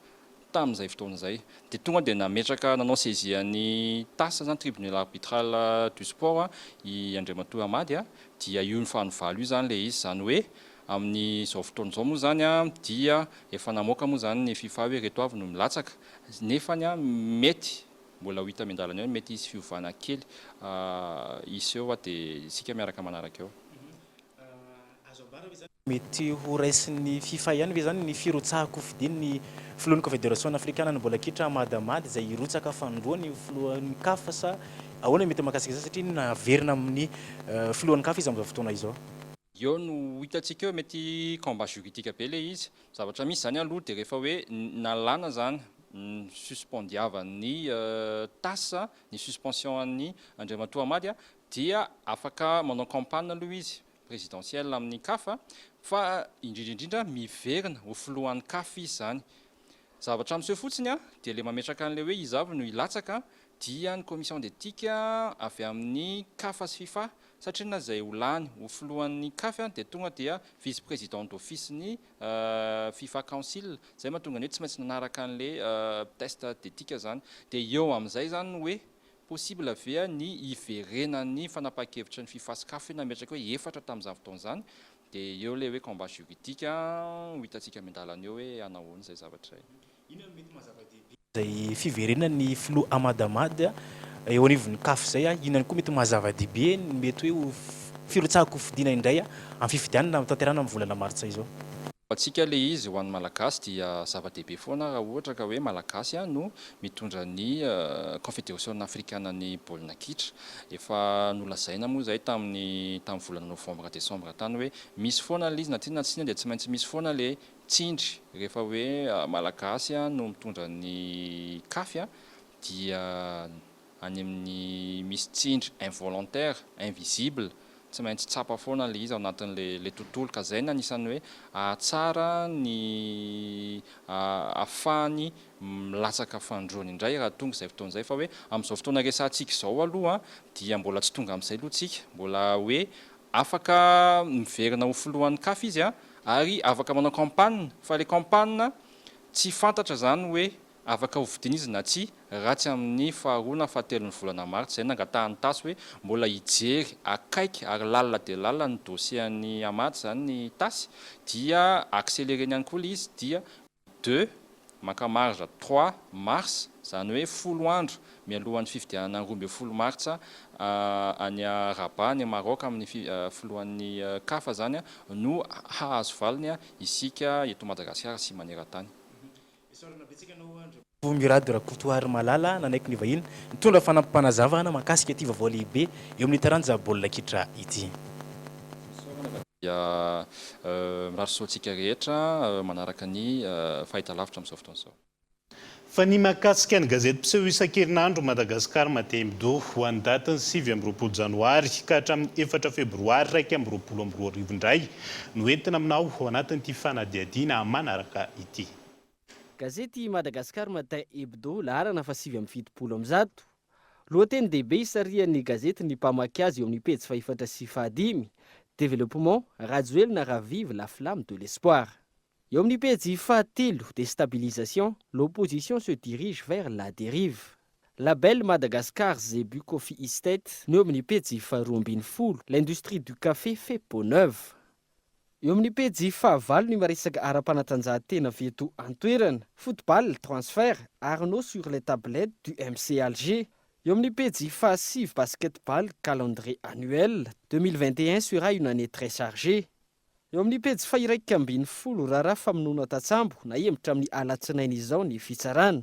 tamin'izay fotoana izay. Dia tonga dia nametraka, nanao saisie an'i tas izany, tribunal arbitral du sport, i Andriamatoa Hamady, dia io nifanovalo io izany ilay izy. Izany hoe amin'izao fotoana izao moa izany dia efa namoaka moa izany ny fifa hoe ireto avy no milatsaka. Nefany mety Mbola ho hita miandalana eo ny mety hisy fiovana kely hisy eo fa dia isika miaraka manaraka eo. Azo ambara ve izany fa mety ho raisin'ny fifa ihany ve izany ny firotsahan-kofidian'ny filohan'ny Kofederasionina afrikanan'ny baolina kitra Ahmad Ahmad izay hirotsaka fahandroany ho filohan'ny caf sa ahoana ny mety mahakasika izany satria naverina amin'ny filohan'ny caf izy amin'izao fotoana izao? Eo no ho hitantsika eo, mety combat juridique be ilay izy. Ny zavatra misy izany aloha dia rehefa hoe nalana izany, ni-suspendiavan'ny tas ny suspension an'i Andriamatoa Hamady dia afaka manao campagne aloha izy présidentielle amin'ny caf fa indrindra indrindra miverina ho filohan'ny caf izy izany. Zavatra miseho fotsiny dia ilay mametraka an'ilay hoe iza avy no hilatsaka dia ny commission d'Ethique avy amin'ny Caf sy Fifa satria na izay ho lany ho filohan'ny Caf dia tonga dia vice président d'office ny Fifa Council izay mahatonga ny hoe tsy maintsy nanaraka an'le test d'Ethique izany dia eo amin'izay izany no hoe possible ve ny hiverenan'ny fanapahan-kevitra ny Fifa sy Caf nametraka hoe efatra tamin'izany fotoana izany dia eo ilay hoe combat juridique ho hitantsika miandalana eo hoe hanao ahoana izay zavatra izay. Inona no mety maha-zava-dehibe izay fiverenan'ny filoha Ahmad Ahmad eo anivon'ny Caf izay? Inona koa mety maha-zava-dehibe ny mety hoe ho firotsahan-kofidina indray amin'ny fifidianana hotanterahina amin'ny volana martsa izao? Ho antsika ilay izy, ho an'ny Malagasy dia zava-dehibe foana raha ohatra ka hoe Malagasy no mitondra ny Kaonfederasiona afrikanan'ny baolina kitra. Efa nolazaina moa izay tamin'ny tamin'ny volana novambra desambra tany hoe misy foana ilay izy na tiana na tsia dia tsy maintsy misy foana ilay Tsindry, rehefa hoe Malagasy no mitondra ny kafy dia any amin'ny misy tsindry involontaire, invisible, tsy maintsy tsapa foana ilay izy ao anatin'ilay tontolo ka izay no anisan'ny hoe hahatsara ny hahafahany milatsaka fandroany indray raha tonga izay fotoana izay fa hoe amin'izao fotoana resahantsika izao aloha dia mbola tsy tonga amin'izay aloha tsika, mbola hoe Afaka miverina ho filohan'ny caf izy ary afaka manao campagne fa le campagne tsy fantatra zany hoe afaka ho vidina izy na tsia raha tsy amin'ny faharoa na fahatelon'ny volana martsa izay nangatahan'ny tasy hoe mbola hijery akaiky ary lalina dia lalina ny dossier an'i Ahmad zany ny tasy dia accelereny ihany koa le izy dia Deux, maka marge trois mars, izany hoe folo andro mialohan'ny fifidianana roa ambin'ny folo martsa any Rabat, any Maroc, amin'ny filohan'ny Caf izany no hahazo valiny isika eto Madagasikara sy maneran-tany. Bongo Mirado Rakotoarimalala nanaiky ny vahiny nitondra fanampim-panazavana mahakasika ity vaovao lehibe eo amin'ny taranja baolina kitra ity. Fisaorana fa dia mirary soa antsika rehetra manaraka ny fahitalavitra amin'izao fotoana izao. Fa ny mahakasika ny gazety mpiseho isan-kerinandro Madagascar Matin Hebdo ho an'ny datin'ny sivy amby roapolo janoary ka hatramin'ny efatra febroary iraika amby roapolo amby roa arivo indray no entina aminao ao anatin'ity fanadihadiana manaraka ity. Gazety Madagascar Matin Hebdo, laharana fahasivy amby fitopolo amby zato, Lohatenin-dehibe isarihan'ny gazety ny mpamaky azy eo amin'ny pejy fahefatra sy fahadimy, Développement, Rajoelina ravive la flamme de l'espoir. Eo amin'ny pejy fahatelo, Déstabilisation, l'opposition se dirige vers la dérive. Label Madagascar Zebu Coffee Estate no eo amin'ny pejy faharoa ambin'ny folo, L'industrie du café fait peau neuve. Eo amin'ny pejy fahavalo ny maresaka ara-panatanjahantena avy eto an-toerana, football, transfert, Arnaud sur les tablettes du MC Alger. Eo amin'ny pejy fahasivy basketball, calendrier annuel, deux mille vingt et un sera une année très chargée. Eo amin'ny pejy fahiraika ambin'ny folo, raharaha famonoana tatsambo nahembotra amin'ny alatsinainy izao ny fitsarana.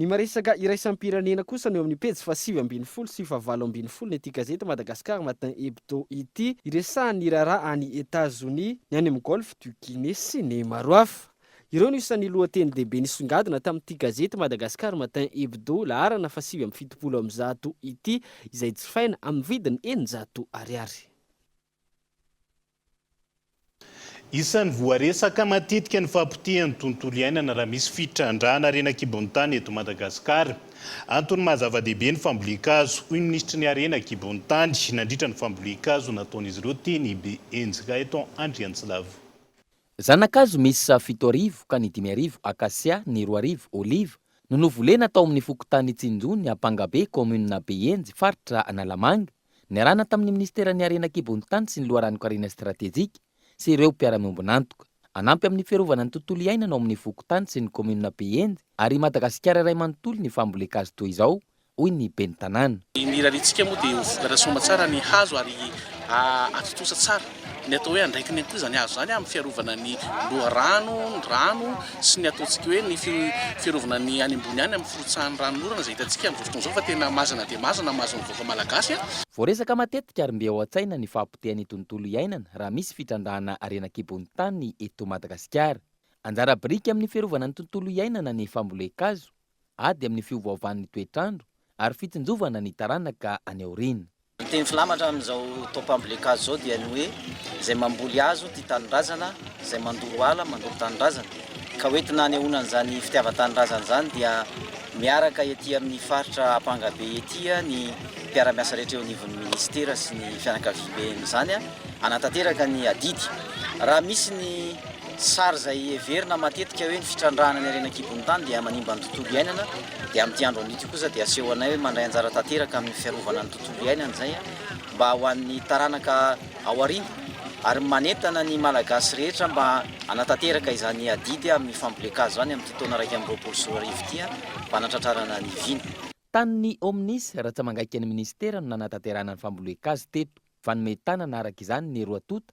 Ny maresaka iraisam-pirenena kosa no eo amin'ny pejy fahasivy ambin'ny folo sy fahavalo ambin'ny folon'ity gazety Madagascar Matin Hebdo ity. Iresahan'ny raharaha any Etazonia, ny any amin'ny Golfe du Guinée sy ny maro hafa. Ireo no isan'ny lohatenin-dehibe nisongadina tamin'ity gazety Madagascar Matin Hebdo laharana fahasivy amby fitopolo amby zato ity, izay jifaina amin'ny vidiny eninjato ariary. Isan'ny voaresaka matetika ny fahapotehan'ny tontolo iainana raha misy fitrandrahana harena an-kibon'ny tany eto Madagasikara. Antony maha zava-dehibe ny fambolen-kazo, hoy ny minisitry ny Harena an-kibon'ny tany, nandritra ny fambolen-kazo nataon'izy ireo teny Ibehenjika, eto Andriantsilavo. Zana-kazo miisa fito arivo ka ny dimy arivo akasia, ny roa arivo oliva, no novolena tao amin'ny fokontany Tsinjo ny Ampangabe, kaominina Behenjy, faritra Analamanga. Niarahana tamin'ny Minisiteran'ny Harena an-kibon'ny tany sy ny Loharanon-karena Stratejika sy ireo mpiara-miombon'antoka. Hanampy amin'ny fiarovana ny tontolo iainana ao amin'ny fokontany sy ny kaominina Behenjy ary i Madagasikara iray manontolo ny fambolen-kazo toy izao, hoy ny Ben'ny Tanàna. Ny rariantsika moa dia ho vokatra soamantsara ny hazo ary hahatontosa tsara. Ny atao hoe andraikiny ihany koa izany hazo izany amin'ny fiarovana ny loharano, ny rano sy ny ataontsika hoe ny fiarovana ny any ambony any amin'ny firotsahan'ny ranon'orana izay hitantsika amin'izao fotoana izao fa tena mazana dia mazana ny mahazo ny vahoaka malagasy. Voaresaka matetika ary mbe ao an-tsaina ny fahapotehan'ny tontolo iainana raha misy fitrandrahana harena an-kibon'ny tany eto Madagasikara. Anjara biriky amin'ny fiarovana ny tontolo iainana ny fambolen-kazo. ady amin'ny fiovaovan'ny toetr'andro ary fitsinjovana ny taranaka any aoriana. Ny teny filamatra amin'izao taux pambolekaz izao dia ny hoe izay mamboly hazo tia tanindrazana, izay mandoro ala mandoro tanindrazana. Ka ho entina hanehoana an'izany fitiavan-tanindrazana izany dia miaraka ety amin'ny faritra Ampangabe ety ny mpiara-miasa rehetra eo anivon'ny minisitera sy ny fianakaviambe amin'izany hanatanteraka ny adidy raha misy ny Sary izay heverina matetika hoe ny fitrandrahana ny harena an-kibon'ny tany dia manimba ny tontolo iainana dia amin'ity andro anio ity kosa dia asehonay hoe mandray anjara tanteraka amin'ny fiarovana ny tontolo iainana izay mba ho an'ny taranaka ao aoriana ary manentana ny Malagasy rehetra mba hanatanteraka izany adidy amin'ny fambolen-kazo izany amin'ity taona iraika amby roapolo sy roa arivo ity mba hanatratrarana ny vina. Tanin'ny Omnis, ratsa-mangaiky ny minisitera no nanatanterahana ny fambolen-kazo teto. Fanome tanana araka izany ny roa tonta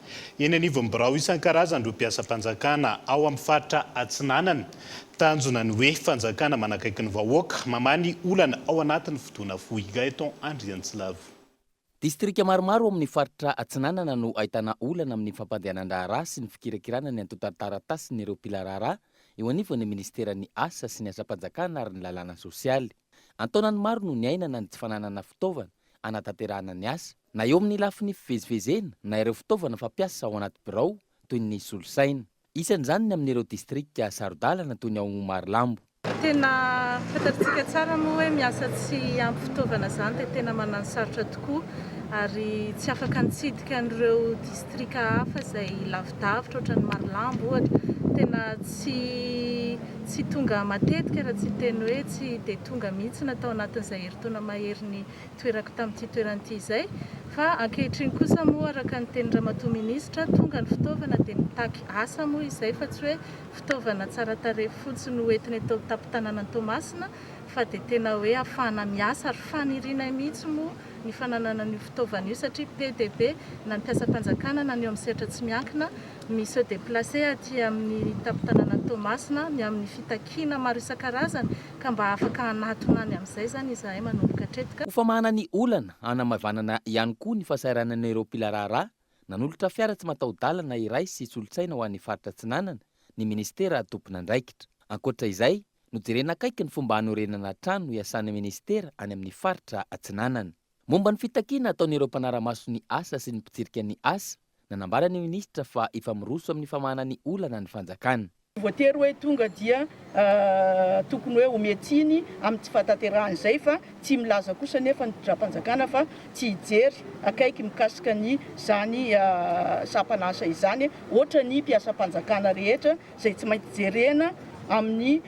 Eny anivon'ny birao isan-karazany ireo mpiasam-panjakana ao amin'ny faritra Atsinanana. Tanjona ny hoe fanjakana manakaiky ny vahoaka, mamaha ny olana ao anatin'ny fotoana fohy. Gaëtan Andriantsilavo. Distrika maromaro ao amin'ny faritra Atsinanana no ahitana olana amin'ny fampandehanan-draharaha sy ny fikirakirana ny antontan-taratasin'ireo mpila raharaha eo anivon'ny minisiteran'ny Asa sy ny asam-panjakana ary ny lalàna sosialy. An-taonany maro no niainana ny tsy fananana fitaovana hanatanterahana ny asa. na eo amin'ny lafiny fivezivezena na ireo fitaovana fampiasa ao anaty birao toy ny solosaina. Isan'izany ny amin'ireo distrika saro-dalana toy ny ao Marolambo. Tena fantatritsika tsara moa hoe miasa tsy ampy fitaovana izany dia tena manano sarotra tokoa ary tsy afaka nitsidika an'ireo distrika hafa izay lavidavitra ohatran'i Marolambo ohatra. Tena tsy tsy tonga matetika raha tsy hiteny hoe tsy dia tonga mihitsy na tao anatin'izay herintaona maherin'ny toerako tamin'ity toerana ity izay fa ankehitriny kosa moa araka ny tenin'ny ramatoa minisitra tonga ny fitaovana dia mitaky asa moa izay fa tsy hoe fitaovana tsara tarehy fotsiny ho entina eto an-tampon-tanànan'i Toamasina fa dia tena hoe hafahana miasa ary fanirianay mihitsy moa ny fananana an'io fitaovana io satria be dia be na ny mpiasam-panjakana na ny eo amin'ny sehatra tsy miankina mi se deplacer aty amin'ny tampon-tanànan'i Toamasina ny amin'ny fitakiana maro isan-karazany Ka mba afaka hanatona any amin'izay izany izahay manomboka hatreto. Ho famahana ny olana, hanamaivanana ihany koa ny fahasahiranan'ireo mpila raharaha nanolotra fiara tsy mataho-dalana iray sy solosaina ho an'ny faritra Atsinanana ny minisitera tompon'andraikitra. Ankoatra izay, nojerena akaiky ny fomba hanorenana trano hiasan'ny minisitera any amin'ny faritra Atsinanana. Momba ny fitakiana ataon'ireo mpanara-maso ny asa sy ny mpitsirika ny asa, nanambara ny minisitra fa efa miroso amin'ny famahana ny olana ny fanjakana. Voatery hoe tonga dia tokony hoe omea tsiny amin'ny tsy fahatanterahan' izay fa tsy milaza kosa anefa ny mpitdram-panjakana fa tsy hijery akaiky mikasika ny izany sampan'asa izany hoatra ny mpiasam-panjakana rehetra izay tsy maintsy jerena amin'ny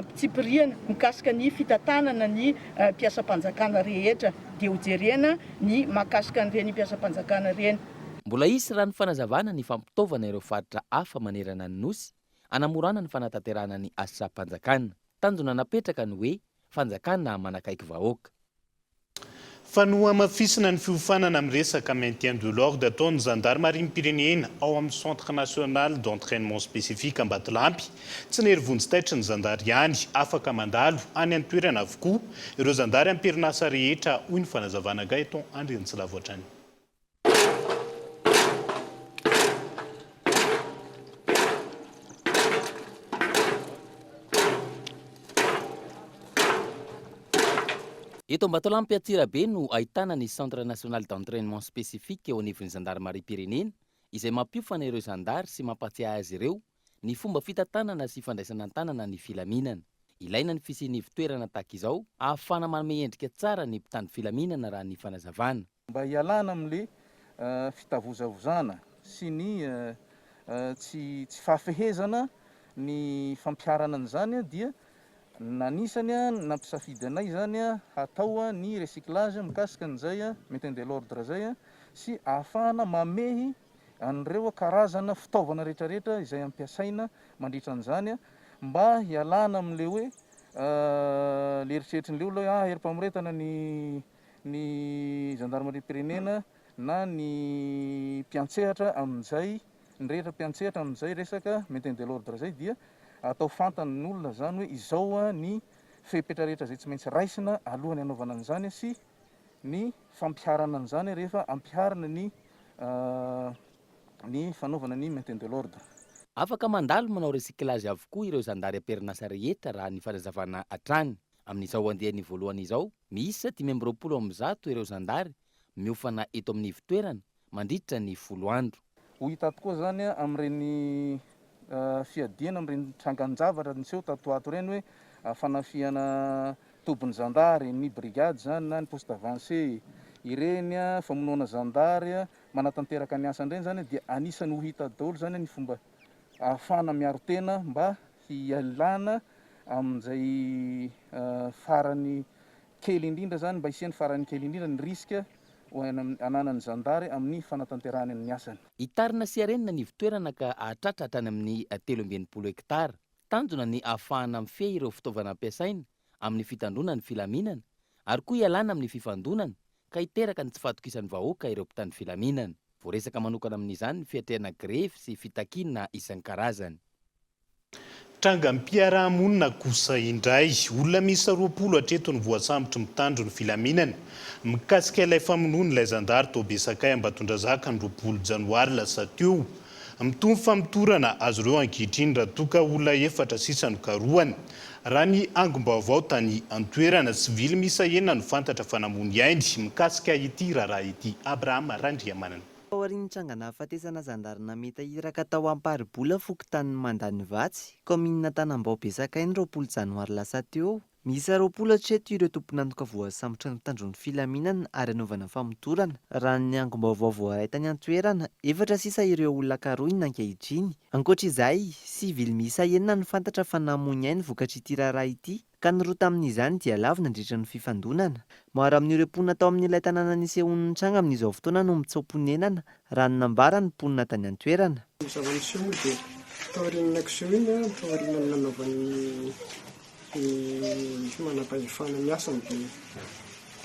fitsipiriana mikasika ny fitantanana ny mpiasam-panjakana rehetra dia ho jerena ny mahakasika an'ireny mpiasam-panjakana ireny. Mbola hisy raha ny fanazavana ny fampitaovana ireo faritra hafa manerana ny Nosy hanamorana ny fanatanterahana ny asam-panjakana. Tanjona napetraka ny hoe Fanjakana manakaiky vahoaka. Fa nohamafisina ny fiofanana amin'ny resaka maintien de l'ordre ataon'ny zandarimariam-pirenena ao amin'ny Centre National d'Entrainement Spécifique Ambatolampy. Tsy nery vonjy taitry ny zandary ihany, afaka mandalo any an-toerana avokoa ireo zandary am-perinasa rehetra, hoy ny fanazavana Gaëton Andriantsilavo hatrany. Eto Ambatolampy Antsirabe no ahitana ny Centre National d'Entrainement Spécifique eo anivon'ny Zandarimariam-pirenena izay mampiofana ireo zandary sy mampatsiahy azy ireo ny fomba fitantanana sy fandraisana an-tanana ny filaminana. Ilaina ny fisian'ny ivon-toerana tahaka izao ahafahana manome endrika tsara ny mpitandro filaminana raha ny fanazavana. Mba hialana amin'le fitavozavozana sy ny tsy tsy fahafehezana ny fampiharana an'izany dia nanisany nampisafidy anay izany hatao ny recyclage mikasika an'izay maintien de l'ordre izay sy ahafahana mamehy an'ireo karazana fitaovana retraretra izay ampiasaina mandritra an'izany mba hialana amin'le hoe le eritreritrin'le olona hoe ah herim-pamoretana ny ny zandarimariam-pirenena na ny mpiantsehatra amin'izay, ny rehetra mpiantsehatra amin'izay resaka maintien de l'ordre izay dia atao fantan'ny olona izany hoe izao ny fepetra rehetra izay tsy maintsy raisina alohan'ny hanaovana an'izany sy ny fampiharana an'izany rehefa ampiharina ny ny fanaovana ny maintien de l'ordre. Afaka mandalo manao recyclage avokoa ireo zandary am-perinasa rehetra raha ny fanazavana hatrany. Amin'izao andiany voalohany izao, miisa dimy amby roapolo amin'ny zato ireo zandary miofana eto amin'ny ivotoerana mandritra ny folo andro. Ho hita tokoa izany amin'ireny fiadiana amin'ireny trangan-javatra niseho tato ho ato ireny hoe fanafihana tobin'ny zandary, ny brigade izany na ny poste avancé. Ireny famonoana zandary manatanteraka ny asany ireny izany dia anisan'ny ho hita daholo izany ny fomba ahafahana miaro tena mba hialana amin'izay farany kely indrindra izany, mba hisian'ny farany kely indrindra ny risque ananan'ny zandary amin'ny fanatanterahany ny asany. Hitarina sy harenina ny ivon-toerana ka hahatratra hatrany amin'ny telo amby enimpolo hektara. Tanjona ny hahafahana mifehy ireo fitaovana ampiasaina amin'ny fitandroana ny filaminana ary koa hialana amin'ny fifandonana ka hiteraka ny tsy fahatokisan'ny vahoaka ireo mpitandro filaminana. Voaresaka manokana amin'izany ny fiatrehana grevy sy fitakiana isan-karazany. Trangam-piarahamonina kosa indray, olona miisa roapolo hatreto no voasambotry ny mpitandro ny filaminana, mikasika ilay famonoan'ilay zandary tao Besakay Ambatondrazaka ny roapolo janoary lasa teo. Mitombo ny famotorana azy ireo ankehitriny raha toa ka olona efatra sisa no karohina. Raha ny angom-baovao tany an-toerana, sivily miisa enina no fantatra fa namoa ny ainy mikasika ity raharaha ity. Abraham Randriamanana. Taorian'ny tranganahafatesana zandary nametaka iraka tao Amparibola fokontanin'i Mandanivatsy, kaominina Tanambao Besakay ny roapolo janoary lasa teo, Miisa roapolo hatreto ireo tompon'antoka voasambotra ny mpitandro ny filaminana ary hanaovana famotorana, raha ny angom-baovao voaray tany an-toerana. Efatra sisa ireo olona karohina ankehitriny. Ankoatra izay, sivily miisa enina no fantatra fa namoy ny ainy vokatr'ity raharaha ity, ka ny roa tamin'izany dia lavo nandritra ny fifandonana. Maro amin'ireo mponina tao amin'ilay tanàna nisehoan'ny tranga amin'izao fotoana no mitsoa-ponenana raha ny nambaran'ny mponina tany an-toerana. Ny zava-niseho moa dia taorian'ny nakiseho iny, taorian'ny nanaovan'ny ny manam-pahefana ny asany dia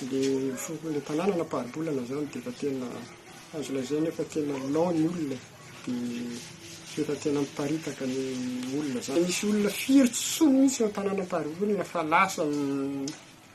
ilay foko, ilay tanàna nampaharibolana izany dia efa tena azo lazaina hoe efa tena lou ny olona e, dia efa tena miparitaka ny olona izany. Nisy olona firy tsy solo mihitsy ao an-tanàna ampaharibolana fa lasa ny.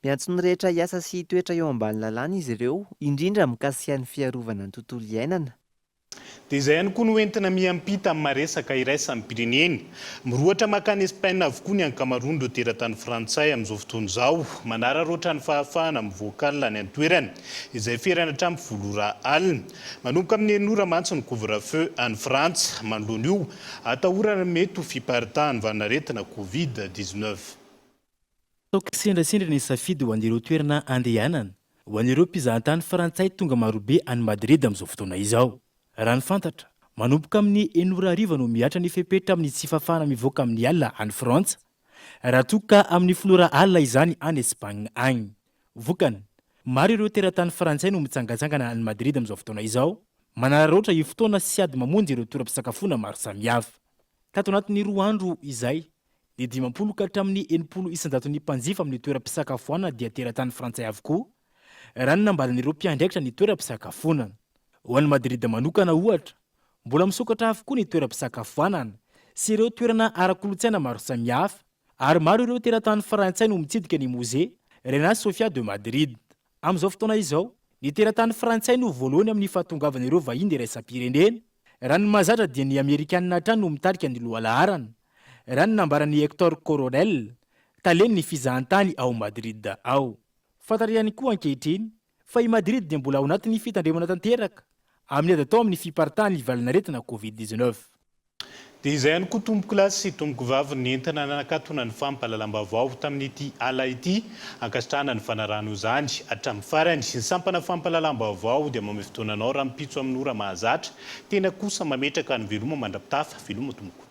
Miantso ny rehetra hiasa sy hitoetra eo ambany lalàna izy ireo, indrindra mikasika ny fiarovana ny tontolo iainana. Dia izay ihany koa no entina miampita amin'ny maha-resaka iraisam-pirenena. Mirohotra mankany Espaina avokoa ny ankamaroan'ireo teratany frantsay amin'izao fotoana izao, manararaotra ny fahafahana mivoaka alina any an-toerana, izay ferana hatramin'ny folo ora alina. Manomboka amin'ny enina ora mantsy ny couvre-feu any Frantsa, manoloana io atahorana mety ho fiparitahan'ny vanin'aretina covid dix-neuf. Ataoko kisendrasendra ny safidy ho an'ireo toerana andehanana ho an'ireo mpizahatany frantsay tonga marobe any Madrid amin'izao fotoana izao. Raha ny fantatra, manomboka amin'ny enina ora hariva no mihatra ny fepetra amin'ny tsy fahafahana mivoaka amin'ny alina any Frantsa, raha toa ka amin'ny folo ora alina izany any Espagne agny. Vokany, maro ireo teratany frantsay no mitsangatsangana any Madrid amin'izao fotoana izao, manararaotra io fotoana sy ady mamonjy ireo toeram-pisakafoana maro samihafa. Tato anatin'ny roa andro izay, Ny dimampolo ka hatramin'ny enimpolo isan-jaton'ny mpanjifa amin'ny toeram-pisakafoanana dia teratany frantsay avokoa, raha ny nambaran'ireo mpiandraikitra ny toeram-pisakafoanana. Ho an'i Madrid manokana, ohatra, mbola misokatra avokoa ny toeram-pisakafoanana sy ireo toerana ara-kolontsaina maro samihafa, ary maro ireo teratany frantsay no mitsidika ny Musée Reina Sofia de Madrid. Amin'izao fotoana izao, ny teratany frantsay no voalohany amin'ny fahatongavana ireo vahiny iraisam-pirenena. Raha ny mahazatra dia ny amerikanina hatrany no mitarika ny lohalaharana, raha ny nambaran'i Hector Coronel, talen'ny fizahantany ao Madrid ao. Fantatra ihany koa ankehitriny fa i Madrid dia mbola ao anatin'ny fitandremana tanteraka amin'ny ady atao amin'ny fiparitahan'ny valanaretina Covid dix-neuf. Dia izay ihany koa tompoko lahy sy tompoko vavy ny entina nanakatona ny fampahalalam-baovao tamin'ity ala ity. Ankasitrahana ny fanarahana izany hatramin'ny farany. Ny sampana fampahalalam-baovao dia mamehy fotoana anao rahampitso amin'ny ora mahazatra. Tena kosa mametraka ny veloma mandra-pitafa. Veloma tompoko.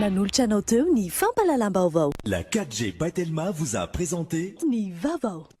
Nanolotra anao teo ny fampahalalam-baovao. La 4G by Telma vous a présenté. Ny vaovao.